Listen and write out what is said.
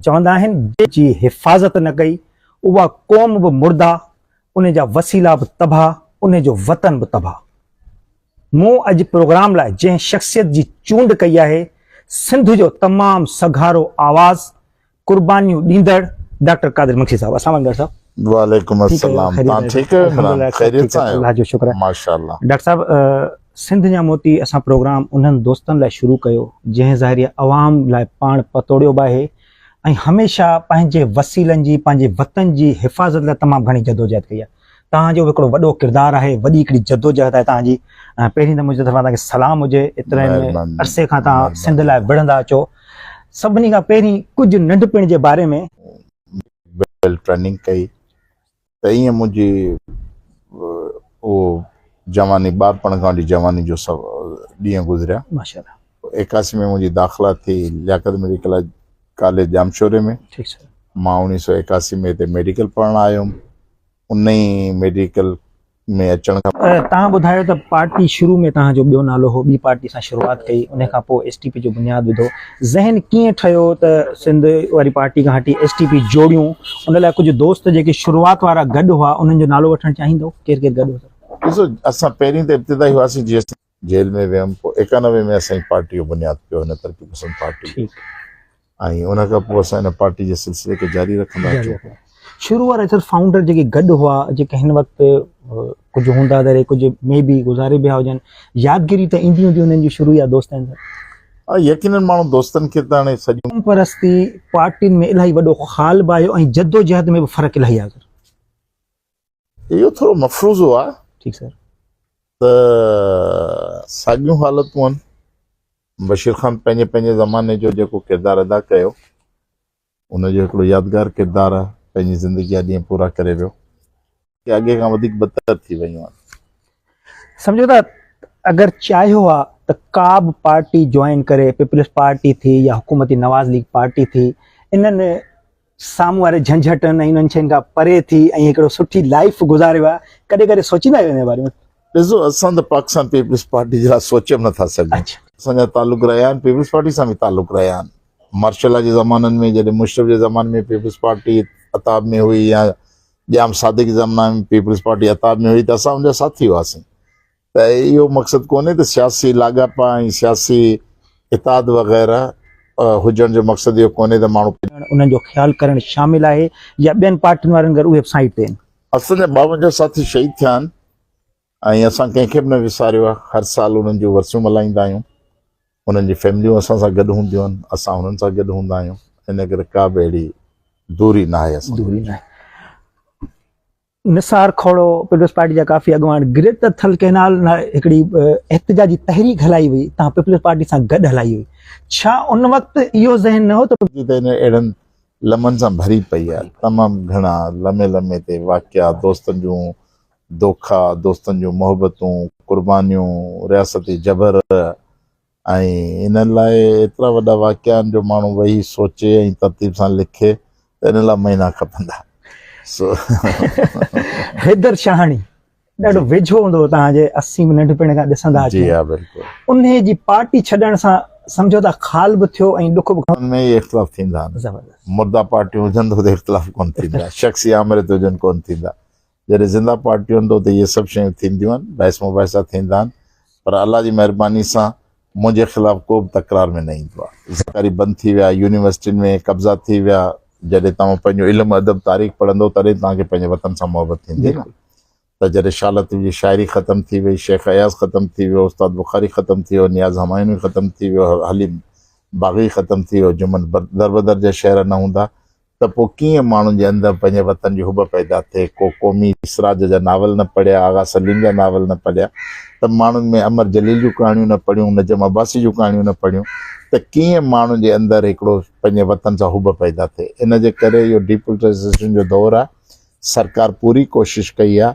چوندا آهن جي حفاظت نه ڪئي اها قوم به مرده ان جا وسيلا به تباهه ان جو وطن به تباهه مون اڄ پروگرام لاء جنهن شخصيت جي چونڊ ڪئي آهي سنڌ جو تمام سگهارو آواز قربانيون ڏيندڙ ڊاڪٽر قادر مگسي صاحب اسلام عليڪم ڊاڪٽر صاحب. وعليڪم السلام تان ٺيڪ آهيو عمران خيريت سان آهيو الله جو شڪر آهي ماشاءالله ڊاڪٽر صاحب سنڌ جا موتي اسان پروگرام انهن دوستن لاء شروع ڪيو جنهن ظاهري عوام لاء پاڻ پتوڙيو به آهي ۽ هميشه پنهنجي وسيلن جي پنهنجي وطن جي حفاظت لاء تمام گهڻي جدوجهد ڪئي آهي توهان جو به هڪڙو وڏو ڪردار آهي وڏي هڪڙي جدوجهد آهي توهان جي پهرين ته منهنجي طرفان توهان کي سلام هجي ايتري عرصي کان توهان سنڌ لاء وڙهندا اچو سڀني کان پهرين ڪجهه ننڍپڻ جي باري ۾ ويل ٽريننگ ڪئي ته ائين منهنجي اهو جواني ٻارپڻ کان وٺي جواني جو سڀ ڏينهن گذريا ماشاءالله ايڪاسي ۾ منهنجي داخلا ٿي لياقت ميڊيڪل ڪاليج ڄامشوري ۾ مان اوڻيهه سؤ ايڪاسي ۾ هتي ميڊيڪل پڙهڻ آيو هيم ان ئي ميڊيڪل ۾ اچڻ کان توهان ٻڌايو ته پارٽي شروع ۾ توهان جو ٻيو نالو هو ٻي پارٽي سان شروعات ڪئي ان کان پوء ايس ٽي پي جو بنياد وڌو ذهن ڪيئن ٺهيو ته سنڌ واري پارٽي کان هٽي ايس ٽي پي جوڙيون ان لاء ڪجهه دوست جيڪي شروعات وارا گڏ هئا انهن جو نالو وٺڻ چاهيندو ڪير ڪير گڏ هو ڏسو اسان پهرين ته ابتدائي هئاسين جي ايس جيل ۾ ويم پوء ايڪانوي ۾ اسان جي پارٽي جو بنياد پيو هن ترقي پسند پارٽي ۽ ان کان پوء اسان هن پارٽي جي سلسلي کي جاري رکندا آهيون شروع وارا اصل فائونڊر جيڪي گڏ هئا جيڪي هن وقت ڪجهه هوندا دري ڪجهه مي بي گذاري بيا هجن يادگيري ته ايندي هوندي انهن جي شروع يا دوستن سان يقينن ماڻهو دوستن کي ته هاڻي سڄي پرستي پارٽين ۾ الاهي وڏو خال به آيو ۽ جدوجهد ۾ به فرق الاهي آيو اهو ٿورو مفروضو آهي ٺيڪ سر ته ساڳيون حالتون آهن بشير خان پنهنجي پنهنجي زماني جو جيڪو ڪردار ادا ڪيو ان جو هڪڙو يادگار ڪردار آهي پنهنجي زندگي جا ڏينهن پورا ڪري ويو ڪي اڳي کان وڌيڪ بدتر ٿي ويون آهن سمجھو ٿا اگر چاهيو آ ته ڪا به پارٽي جوائن ڪري پيپلز پارٽي ٿي يا حڪومتي نواز ليگ پارٽي ٿي انهن سامهون واري جهنجهٽن ۽ انهن شين کان پري ٿي ۽ هڪڙو سٺي لائيف گذاريو آهي ڪڏهن ڪڏهن سوچيندا آهيو ان جي باري ۾. ڏسو اسان ته پاڪستان پيپلز پارٽي جي لاء سوچي به نٿا سگهون اسان جا تعلق رهيا آهن پيپلز پارٽي سان به تعلق رهيا آهن مارشل لا جي زمانن ۾ جڏهن مشرف جي زماني ۾ پيپلز پارٽي عتاب ۾ هئي يا ڄام صادق جي زماني ۾ پيپلز پارٽي عتاب ۾ هئي ته اسان ان جا ساٿي هئاسين ته اهو مقصد ڪونهي ته سياسي لاڳاپا ۽ سياسي اتحاد وغيره هجڻ جو مقصد اهو ڪونهي ته ماڻهو پنهنجي. انهن جو خيال ڪرڻ شامل آهي يا ٻين پارٽين وارن گر اهي به سائيڊ تي آهن. اسان جا ٻاونجاهه ساٿي شهيد ٿيا آهن ۽ اسان ڪنهن کي به نه وساريو آهي، هر سال انهن جون ورسيون ملهائيندا آهيون، انهن جون فيمليون اسان سان گڏ هونديون آهن، اسان انهن سان گڏ هوندا آهيون، ان ڪري ڪا به اهڙي دوري ناهي اسان جي وچ ۾. نثار کهڙو، پيپلز پارٽي جا ڪافي اڳواڻ گريٽ ته ٿل ڪئنال لاء هڪڙي احتجاجي تحريڪ هلائي هئي، توهان پيپلز پارٽي سان گڏ هلائي هئي، ڇا ان وقت اهو ذهن نه هو ته. ڪراچي ته هينئر اهڙن لمحن سان ڀري پئي آهي، تمام گهڻا لمحي لمحي تي واقعا، دوستن جون دوکا، دوستن جون محبتون، قربانيون، رياستي جبر، ۽ ان لاء ايترا وڏا واقعا آهن جو ماڻهو ويهي سوچي ۽ ترتيب سان لکي ته ان لاء مهينا کپندا. سو حيدر شاهاڻي ڏاڍو ويجهو هوندو هو توهان جي اسين به ننڍپڻ کان ڏسندا اچون جي ها بلڪل. انهي جي پارٽي ڇڏڻ سان سمجهوتا خال به ٿيو ۽ ڏک به گهڻو. ان ۾ ئي اختلاف ٿيندا آهن. زبردست. مرده پارٽيون هجن ته اختلاف ڪونه ٿيندا شخصي آمريت هجن ڪونه ٿيندا. جڏهن زنده پارٽي هوندو ته اهي سڀ شيون ٿينديون آهن، بحث مباحثا ٿيندا آهن پر الله جي مهرباني سان منهنجي خلاف ڪو به تڪرار ۾ نه ايندو آهي. زرڪاري بند ٿي ويا، يونيورسٽين ۾ قبضا ٿي ويا، جڏهن توهان پنهنجو علم، ادب، تاريخ پڙهندو تڏهن توهان کي پنهنجي وطن سان محبت ٿيندي نه ته جڏهن شاهه لطيف جي شاعري ختم ٿي وئي، شيخ اياز ختم ٿي ويو، استاد بخاري ختم ٿي ويو، نياز همايوني ختم ٿي ويو، حليم باغي ختم ٿي ويو، جمن دربدر جا شعر نه هوندا ته پوء ڪيئن ماڻهن جي اندر پنهنجي وطن جي حب پيدا ٿئي. ڪو قومي اسراج جا ناول نه پڙهيا، آغا سليم جا ناول نه پڙهيا ته ماڻهن ۾ امر جليل جون ڪهاڻيون نه پڙهيون، نجم عباسي جون ڪهاڻيون نه پڙهيون ته ڪيئن ماڻهن جي اندر هڪڙو پنهنجي وطن سان حب پيدا ٿئي. ان جي ڪري اهو ڊيپولٽائيزيشن جو دور آهي. سرڪار پوري ڪوشش ڪئي آهي.